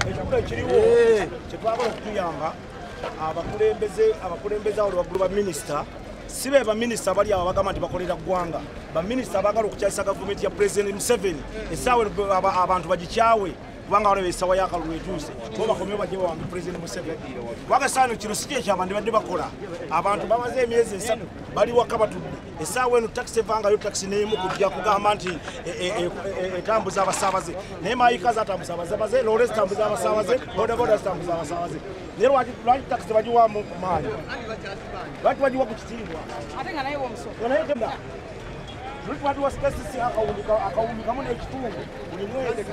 ekikula ekiriwo kyetwagala okutuyamba abakulembeze abakulembeze awo lwaggulu baminisita si be baminisita abali awo bagamba nti bakolera ggwanga baminisita abagala okukyayisa gavumenti ya pulezidenti museveni esaawa abantu bagikyawe kubanga waliwo esawa yakalulu etuuse bo bakomeo bajje bawambe pulezidenti museveni kubanga saano kino si kyekyabandibadde bakola abantu bamaze emyezi esatu bali waka batudde esaawa eno takisi evangayo takisi nemu kujja kugamba nti e, e, e, etambuza abasabaze naye mayika zatambuza abasabaze lole zitambuza abasabaze bodaboda zitambuza abasabaze naye lwaki takisi bagiwamu maanyi lwaki bagiwa ku kitiibwa lwaki bagiwa spesisi akawumbi kamu n'ekitundu buli mwezi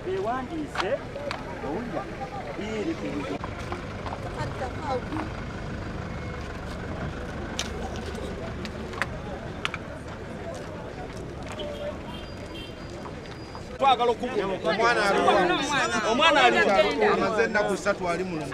beewandiise owulira biiri ku buzo twagala okukuomwana aliamaze ennaku satu ali mulungi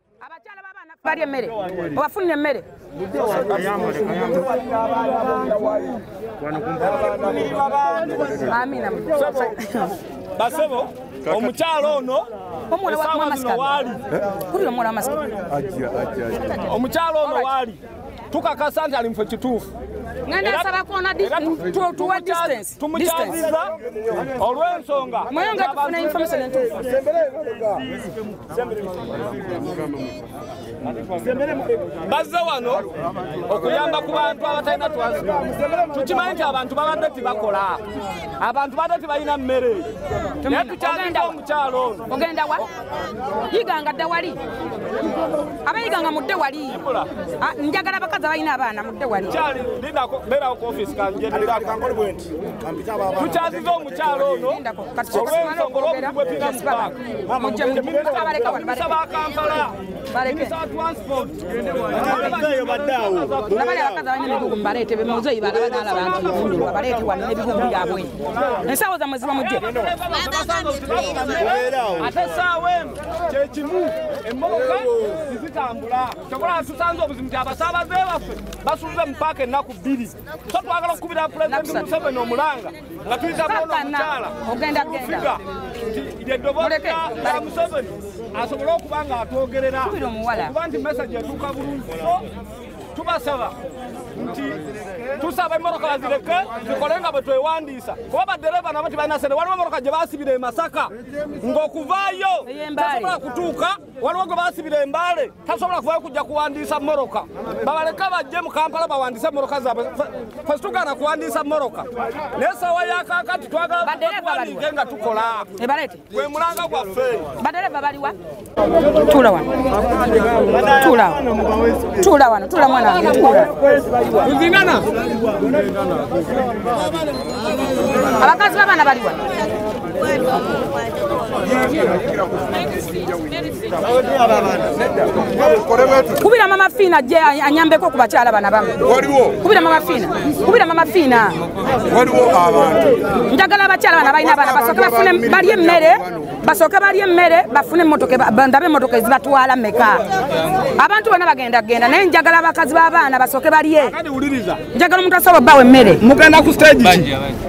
abakyala babaana balya emmere obafunira emmere basebo omukyalo ono omukyalo ono waali tukakasa nti ali mufe kituufu tumukyaziza olw'ensonga mweyo nga tufuna information entuufu bazze wano okuyamba ku bantu abatalina twansipo tukimanyi nti abantu babadde tibakola abantu badde tibalina mmere naye tukyaliza omukyalo ono yiganga dda wali abayiganga mudde wali ah, njagala abakazi abalina abaana mudde wali tukyaziza omukyalo ono olwensonga olwobugwepinga mubaaka nabale abakazi abalina ebigugu mubaleete bemuzeyi balaba nalaba nti nfundulwa baleete wano nebigugu byabwe ensawo zamwe ziba mujje ate esaawa eno kyekimu emmotoka zizitambula kyokola tusanze obuzimu ti abasaabaze baffe basuuze mu paaka ennaku bbiri so twagala okukubira pulezidenti museveni omulanga nga tuyita bona omukyala ofiga nti lyeddoboozi lya museveni asobole okuba nga atwogerera okuba nti mesaje etuuka bulungi so tubasaba nti tusaba emmotoka bazireke zikole nga bwe twewandiisa kuba baddereeva nabo tibalina sente waliwo emmotoka gye basibira e masaka ng'okuvaayo tosobola kutuuka waliwo gwe basibira embaale tasobola kuvayo kujja kuwandiisa moroka babaleka bajje mu kampala bawandiise moroka zaabwe fe situgaana kuwandiisa moroka naye sawa yakakati twagalakuwandiike nga tukola gwe mulanga gwaffe badereva baliwa tula wano tula tula wano tula mwana wange tula abakazi babaana baliwa kubira mama fiina je anyambeko ku bakyala bana bamu kubira mama fiina kubira mama fiina njagala abakyala bana balina abaana basooke bafune balye emmere basooke balye emmere bafune ndabe emmotoka ezibatwala meka abantu bona bagenda kugenda naye njagala abakazi b'abaana basooke balye njagala omuntu asobola obbawa emmere mugenda ku stage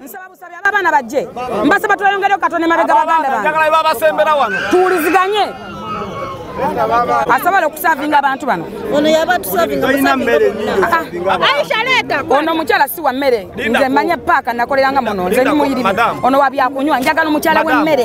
nsaba busabi aba abaana bajje mbasaba tweyongereo katonda emabega baganda banjagalaebabasembera wano tuwuliziganye asobola okusavinga abantu bano ono omukyala si wa mmere nze manya paaka nakoleranga muno nze nimuyirimi ono wa byakunywa njagala omukyala w'emmere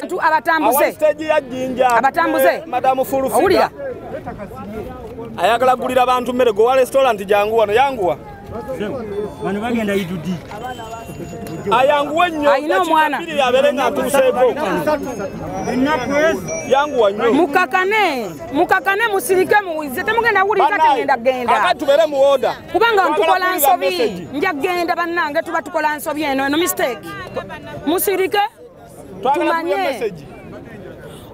bantu abatambuze abatambuze owulira ayagala gulira bantu mmere gowa restaurant jangu wano yanguwa bano bagenda idudi ayanguwe nnyo alina omwana yabeere nga atuuseeko yanguwa nnyo mukakane mukakane musirike muwize temugenda wulirika tegenda genda kakati tubeere mu oda kubanga ntukola nsobi nja genda bannange tuba tukola nsobi eno eno mistake musirike tumanye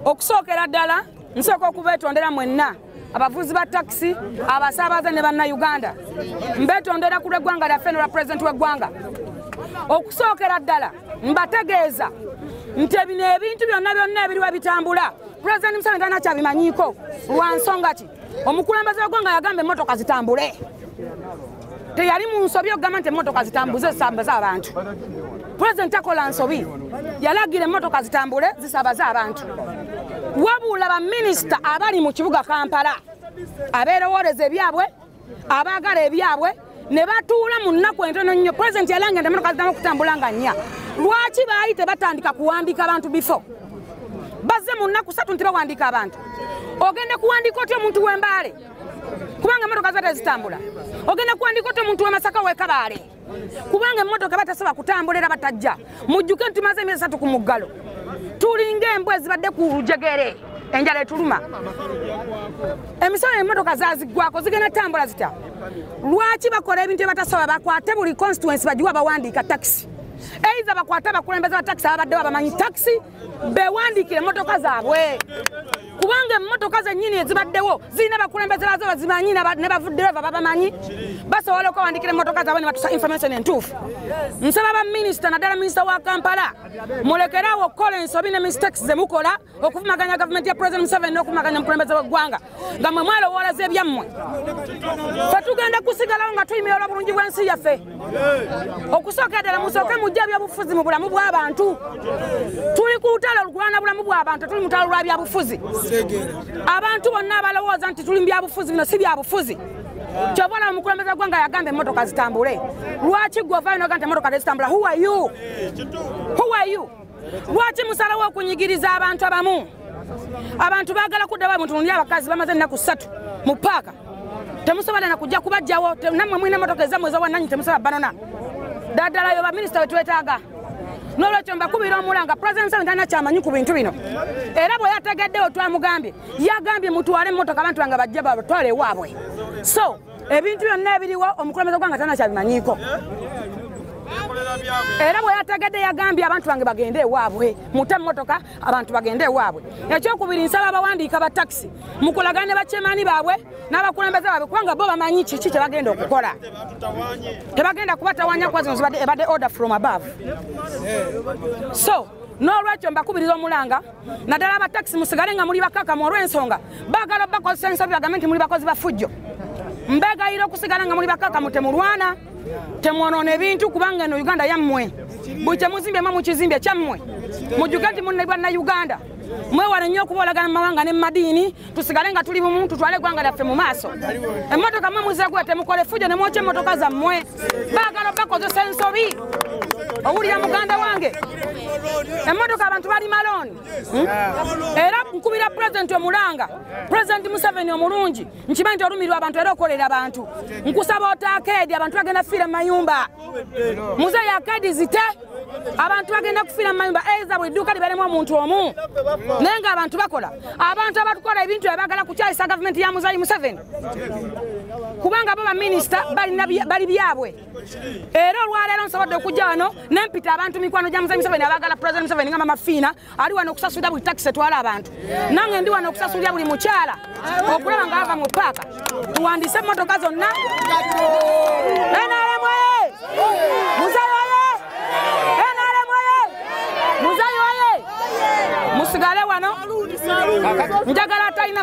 okusookera ddala nsooka okubetondera mwenna abavuzi ba takisi abasaabaze ne bannayuganda mbetondera ku lweggwanga lyaffe nolwa pulezidenti w'eggwanga okusookera ddala mbategeeza nti bino ebintu byonna byonna ebiriwa bitambula pulezidenti museveni talina kyabimanyiiko lwa nsonga ki omukulembeze wegwanga yagamba emotoka zitambule teyali mu nsobi okugamba nti emotoka zitambuze zisambaze abantu president takola nsobi yalagira emotoka zitambule zisabaze abantu wabula baminisita abali mu kibuga kampala abeerowooleza ebyabwe abaagala ebyabwe ne batuula mu nnaku entono nnyo pulezidenti yalanga nti emotoka ziddamu okutambula nga nnya lwaki baali tebatandika kuwandiika abantu bifo bazze mu nnaku satu nti bawandiika abantu ogenda kuwandiika otya omuntu w'embaale kubanga emotoka ziba tezitambula ogenda kuwandiika otya omuntu w'emasaka w'ekabaale kubanga emmotoka batasaba kutambula era batajja mujjuke nti tumaze emyezi satu ku muggalo tulinga embwa ezibadde ku lujegere enjala etuluma emisolo emotoka zazigwako zigenda tambula zita lwaki bakola ebintu ebatasobola bakwate buli constituency bagiwa bawandiika takisi eiza bakwate abakulembeze ba takisi ababadde babamanyi takisi bewandiikira emmotoka zaabwe kubanga emmotoka zennyini ezibaddewo zirina bakulembeze bazo bazimanyi ne bavuddereva babamanyi basobola okwewandiikira emmotoka zaabwe ne batusa information entuufu nsaba baminisita naddala minisita wa kampala mulekeraawo okukola ensobi ne mistakes ze mukola okuvumaganya gavumenti ya president museveni n'okuvumaganya omukulembeze w'eggwanga nga mwe mwalowoolaza ebyammwe fe tugenda kusigalawo nga tuyimira olwa bulungi bw'ensi yaffe okusookera ddala musooke mujja ebyobufuzi mu bulamu bw'abantu tuli ku lutalo olukulwana bulamu bw'abantu tuli mutalo lwa byabufuzi abantu bonna abalowooza nti tuli mu byabufuzi bino si byabufuzi kyova olaba mukulembeza gwanga yagamba emotoka zitambule lwaki gwovayo noga nti emotoka tezitambula who are you who are you lwaki musalawo okunyigiriza abantu abamu abantu bagala kuddawo abantu nuli abakazi bamaze ennaku ssatu mu paaka temusobola nakujja kubajjawo nammwe mulina emotoka ezammwe ezawananyi temusobola banona daddala yo baminisita wetwetaaga nolwekyo mbakubira omulanga president sawe talina kyamanyi ku bintu bino era bwe yategeddewo twamugambye yagambye mutwale emotoka abantu bange bajja batwale ewaabwe so ebintu byonna ebiriwo omukulembeze gwanga tanakyabimanyiiko era bwe yategedde yagambye abantu bange bagende ewaabwe mute mmotoka abantu bagende ewaabwe ekyokubiri nsaba abawandiika ba takisi mukulagana ne bakyemaani baabwe n'abakulembeze baabwe kubanga bo bamanyi kiki kye bagenda okukola tebagenda kubatawanya kuba zino zibadde ebadde order from above so n'olwekyo mbakubiriza omulanga naddala abatakisi musigale nga muli bakakamu olw'ensonga baagala obakozesa ensobi bagambe nti muli bakozi bafujjo mbegayira okusigala nga muli bakakamu temulwana temwonoona ebintu kubanga eno uganda yammwe buli kyemuzimbye mwe mukizimbe kyammwe mujjuke nti munne bwanna uganda mwewale nnyo okuboolagana mu mawanga ne mu madiini tusigale nga tuli bumu tutwale eggwanga lyaffe mu maaso emmotoka mwe muzegula temukole fujjo ne mwokya emmotoka zammwe baagala bakozesa ensobi owulira muganda wange emmotoka abantu bali malooni hmm? era nkubira pulezidenti omulanga pulezidenti museveni omulungi nkimanyi nti olumirwa abantu era okolera abantu nkusaba otaakaedi abantu bagenda fiira mu mayumba muzeeyi akaedi zite abantu bagenda kufiira mu mayumba eza buli dduuka libalemu omuntu omu naye nga abantu bakola abantu abatukola ebintu ebagala kukyayisa gavumenti ya muzayi museveni kubanga bo baminisita bali byabwe era olwaleero nsobodde okujja wano nempita abantu mikwano gya muzayi museveni abagala president museveni nga mamafiina ali wano okusasulira buli takisi etwala abantu nange ndi wano okusasulira buli mukyala okulaba nga ava mu paaka tuwandiise emmotoka zonna musigale wano njagala atalina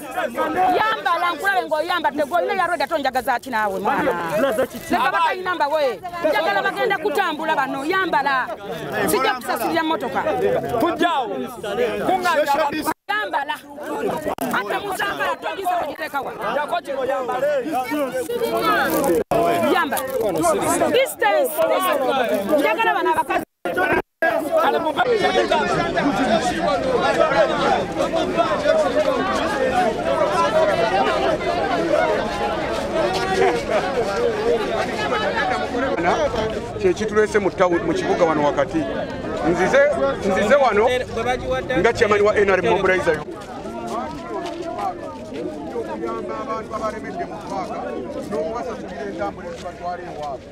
yambala nkulabe ngaoyambadde golina yarweda to njaga zaki naawe mwanaleka batalina mbawe njagala bagenda kutambula bano yambala sijja kusasulira motoka tujjawo yambala ate muzambala togisa wagitekawa yambala distance njagala bano abakazi kyekitulese mu kibuga wano wakati nzize wano nga kyamani wa nrm mobilizer abantu abalemedde mu paaka n'okubasasulira entambula ezibatwala ewaabwe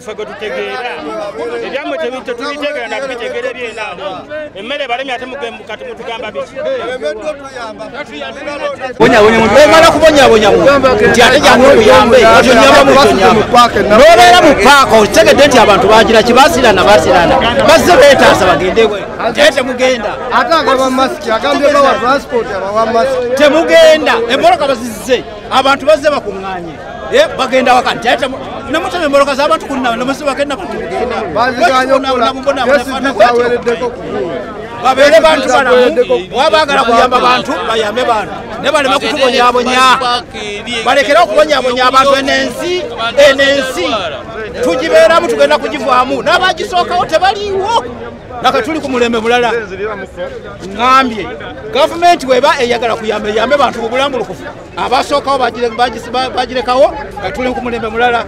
ffe gwe tutegeera ebyammwe tetubitegera nakubitegere byena emmere balemi ate kati mutugamba bikiomala kubonyabonya nti ate jangu obuyambe nobeera mu paaka okitegedde nti abantu bagira kibasirana basirana bazze betaasa bagende naye temugenda temugenda emboloka bazizze abantu bazze bakuŋŋanye Eh, bagenda waka nti ate namutema emboloka zabantu kunna nemusibagenda bawereddeko babeere bantu balamu oba bagala kuyamba bantu bayambe bantu naye baleme kutubonyabonya balekere okubonyabonya abantu enensi enensi tugibeeramu tugenda kugivaamu n'abagisookawo tebaliiwo naka tuli ku mulembe mulala ŋambye gavumenti weba eyagala kuyamba eyambe bantu bubulambulukufu abasookawo bagirekawo nga tuli ku mulembe mulala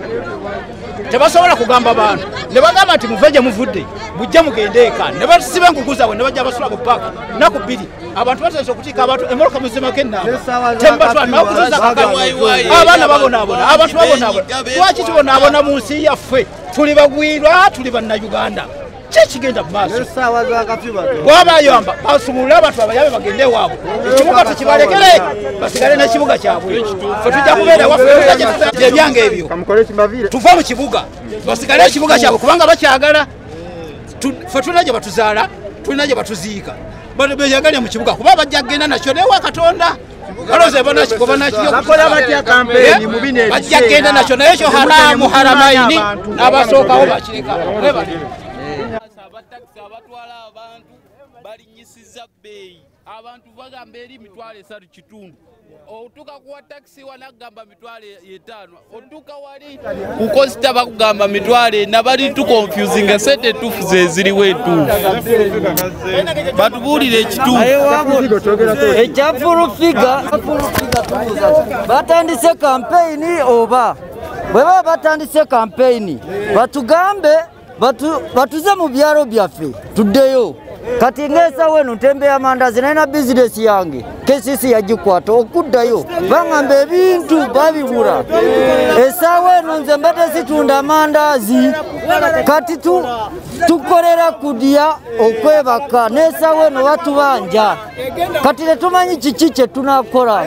tebasobola kugamba bantu ne bagamba nti muve gye muvudde mujje mugende eka ne basiba enkuku zaabwe ne bajja basula ku paaka naku bbiri abantu batandise okukiika abantu emoloka muzimako ennaabaabaana babonaabona abantu babonaabona lwaki tubonaabona mu nsi yaffe tuli bagwirwa tuli bannayuganda kyekigenda mumaasowaabayamba basumulule abantu babayabe bagende waabwe ekibuga tukibalekere basigale nekibuga kyabwe fetujja kubeera wafeebyange ebyo tuva mu kibuga basigale ekibuga kyabwe kubanga bakyagala fe tulina gye batuzaala tulina gye batuziika beyagale mu kibuga kuba bajja kugenda nakyo newa katonda bakola batya kampeni mu bino ebajja kugenda nakyo naye ekyo haramu haramaini n'abasookawo bakireka abatakisi abatwala abantu balinyisiza bbeeyi abantu bagamba eri mitwalo esatu kitundu otuka kuwa takisi wanagamba kukosita bakugamba mitwalo ena bali tukonfusinga sente etuufu zeziriwo etuufu batubuulire ekituufubatandise kampeyini oba bwebaba batandise kampeyini batugambe batuze mu byalo byaffe tuddeyo kati ngeesawo eno ntembe ya mandazi naye na bizinesi yange kcc yagikwata okuddayo baŋamba ebintu babibula esaawo eno nze mbadde zitunda amandazi kati tukolera kudya okwebaka n'esaawo eno batubanja kati tetumanyi kiki kye tunakola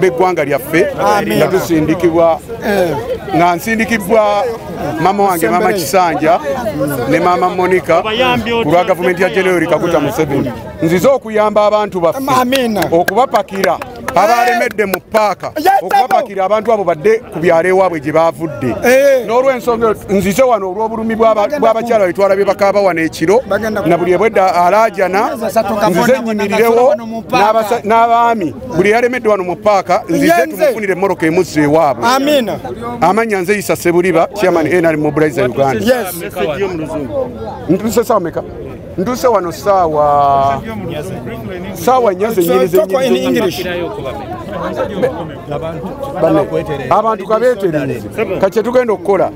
b'eggwanga lyaffe nga tusindikibwa eh. nga nsindikibbwa maama wange maama kisanja ne maama monica ku lwa gavumenti ya general kaguta museveni nzize okuyamba abantu baffe okubapakira abalemedde mu paaka okubapakira abantu abo badde ku byalo ewaabwe gye baavudde eh. n'olwensonga nzize wano olw'obulumi bw'abakyala betwala bye bakaaba wano ekiro na buli ebwedda alaajana nzize nnyimirirewo n'abaami buli yalemedde wano mu paaka nzize tumufunire moroka emuzza ewaabwe amanya nze yisa sebuliba chairman nr mobilize uganda ntusesawa meka nduse wano saawa saawa nyaze abantu kabetereze kakye tugenda okukola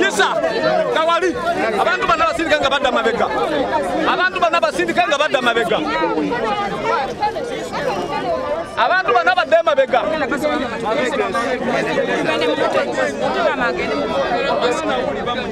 yisa kawali abantu bana basindika nga badda mabega abantu bana basindika nga badda mabega abantu bana badde emabega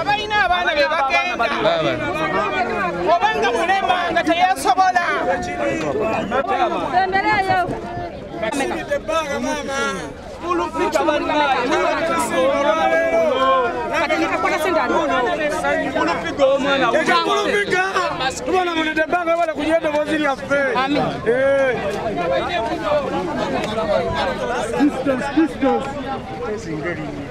abalina abaana be bagenda obanga mulema nga teyasobola Bwana mnitembanga wala kujienda waziri ya fe. Amen. Eh. Distance, distance.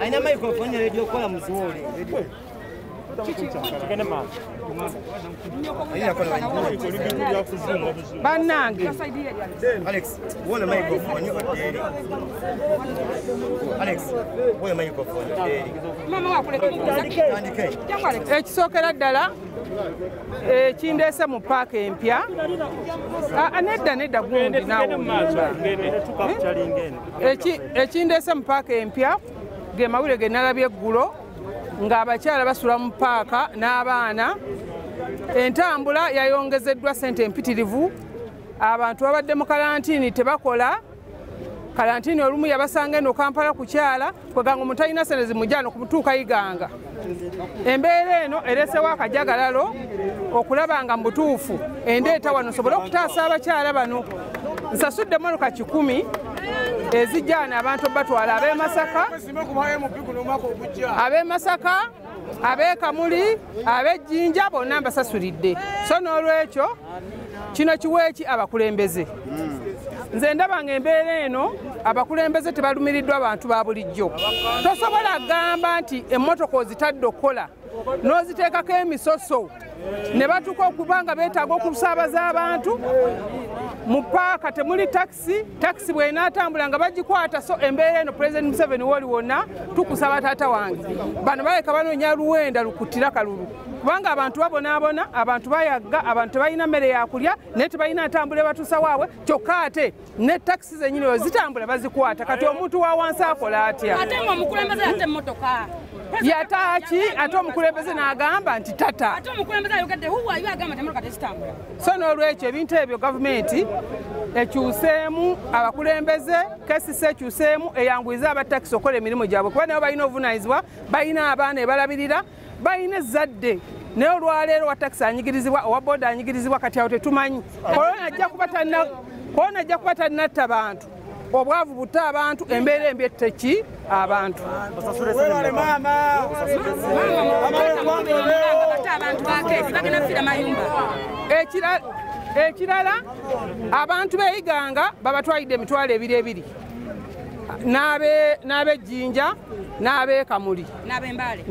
alina microphone ne radio kola muziwole bannange alex wona microphone oderi alex wona microphone oderi mama wakuleka ekisokera ddala ekindeese mu paaka empya ah, ah, nedda nedda gundi nawe ekindeese mu paaka empya ge mawulire ge nalabye eggulo ng'abakyala basula mu paaka n'abaana entambula yayongezeddwa ssente empitirivu abantu babadde mu kalantiini tebakola kalantini olumu yabasanga eno kampala kukyala kweganga omuntu alina sente zimujano kumutuuka iganga embeera eno eresewo akajagalalo okulaba nga mubutuufu endeeta wano sobole okutaasa abakyala bano nsasudde monoka kikumi ezijjaana abantu batwala ab'emasaka ab'emasaka abekamuli abejjinja bonna mbasasuridde so n'olwekyo kino kiweeki abakulembeze nze ndaba nga embeera eno abakulembeze tebalumiriddwa abantu ba bulijjo tosobola kugamba nti emmotoka ozitadde okukola n'oziteekako emisoso ne batuka okuba nga beetaaga okusaabaza abantu mu paaka temuli tax takisi takisi bwenaatambula nga bagikwata so embeera eno pulezidenti museveni woli wonna tukusaba taata wange bano baleka banoonya luwenda lukutira kalulu kubanga abantu babonaabona abantu bayagga abantu tebalina mmere yakulya naye tebalina ntambula ebatuusa waabwe kyokka ate ne takisi zenyini oyo zitambula bazikwata kati omuntu wa wansi akola atya yataaki ate omukulembeze n'agamba nti tata so n'olwekyo ebintu ebyo gavumenti ekyuseemu abakulembeze kesisi ekyuseemu eyanguyize abatakisi okukola emirimu gyabwe kuba nabo balina obuvunanyizibwa balina abaana ebalabirira balina ezzadde naye olwaleero wa takisi anyigirizibwa owa boda anyigirizibwa kati awo tetumanyi kolona ajja kuba tannatta bantu obwavu butte abantu embeera embi etteki abantu ekirala abantu beyiganga babatwalidde emitwalo ebiri ebiri n'abejjinja n'abekamuli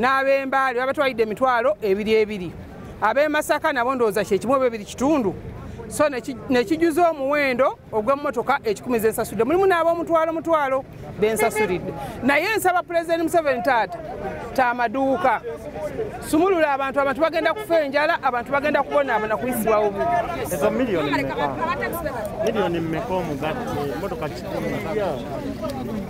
n'abembaale babatwalidde emitwalo ebiri ebiri ab'e masaka nabo ndowooza kyekimu oba ebiri kitundu so nekijuza omuwendo ogw'emmotoka ekikumi zensasudde mulimu n'ab'omutwalo mutwalo bensasuridde naye nsaba pulezidenti museveni taata tamaduuka sumulula abantu abantu bagenda kufa enjala abantu bagenda kubonaabona kuyisibwa obu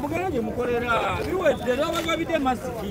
mugenyi mukolera biwedde nabagabidde masiki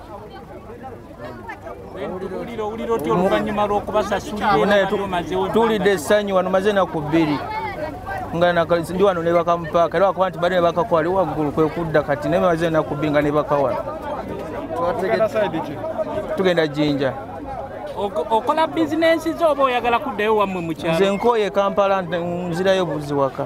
tulidde essanyu wano maze enaku bbiri nga ndi wano nebakamupaaka era wakuba nti bali nebakakwali waggulu kwekudda kati naye maze enaku bbiri nga nebakawala tugenda jinja okola bizinensi zo oba oyagala kuddayo wammwe mukyalo nze nkooye kampala nzirayo buzi waka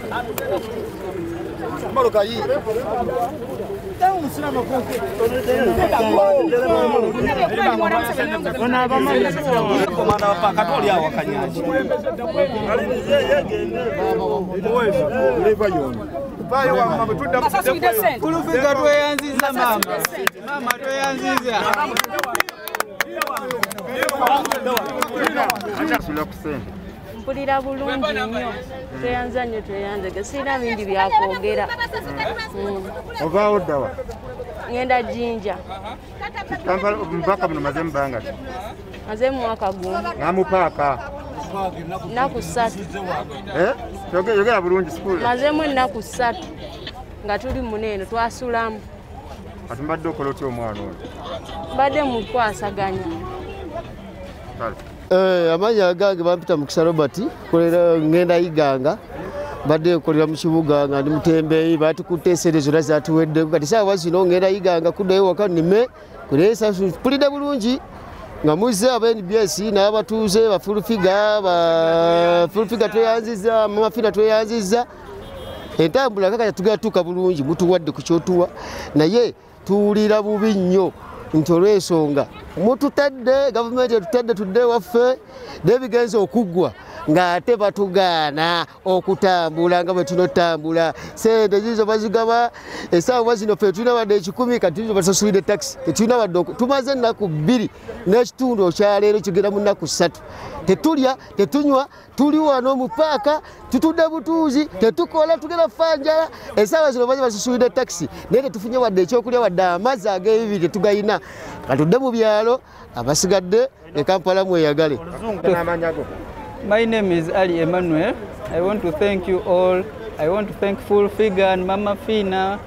Kulufika tweyanziza mama. Mama tweyanziza. mpulira bulungi nnyo tweyanza nnyo tweyanzege sirina bingi byakwogera mm. ovaawo ddawa ŋenda jinja mupaka muno maze mubanga ki maze mumwaka gumu namupaaka naku satu eh? yogera bulungi sukulu mazemu ennaku satu nga tuli mune eno twasulamu kati mbadde okola otya omwana oyo mbadde mukwasaganya kale Eh, amannya agange bampita mukisa robert kolera ngenda yiganga mbadde nkolera mu kibuga nga ndi mutembeeyi batikutte esente zonna zatuweddeko kati saawa zino ngenda yiganga kuddayo waka nime kulesapulidde bulungi nga muzze aba nbs n'abatuuze bafulufiga bafulufiga tweyanziza mumafina tweyanziza entambula kakaya tugenda tuuka bulungi mutuwadde ku kyotuwa naye tuwulira bubi nnyo nti olwensonga mututadde gavumenti etutadde tudde waffe nebigenza okuggwa ng'ate batugaana okutambula nga bwe tunotambula sente ziizo bazigaba esaawa zino fe tulina wadde ekikumi kati zo basasulidde takisi tetulina wadde tumaze ennaku bbiri n'ekitundu okyaleero kigenda mu nnaku ssatu tetulya tetunywa tuli wano mu paaka tutudde butuuzi tetukola tugenda fanjala esaawa zino baze basusulidde takisi naye tetufunye wadde ekyokulya wadde amazzi ag'ebibi tetugalina katudde mu byalo abasigadde ne kampala mweyagale My name is Ali Emmanuel. I want to thank you all. I want to thank Full Figure and Mama Fina.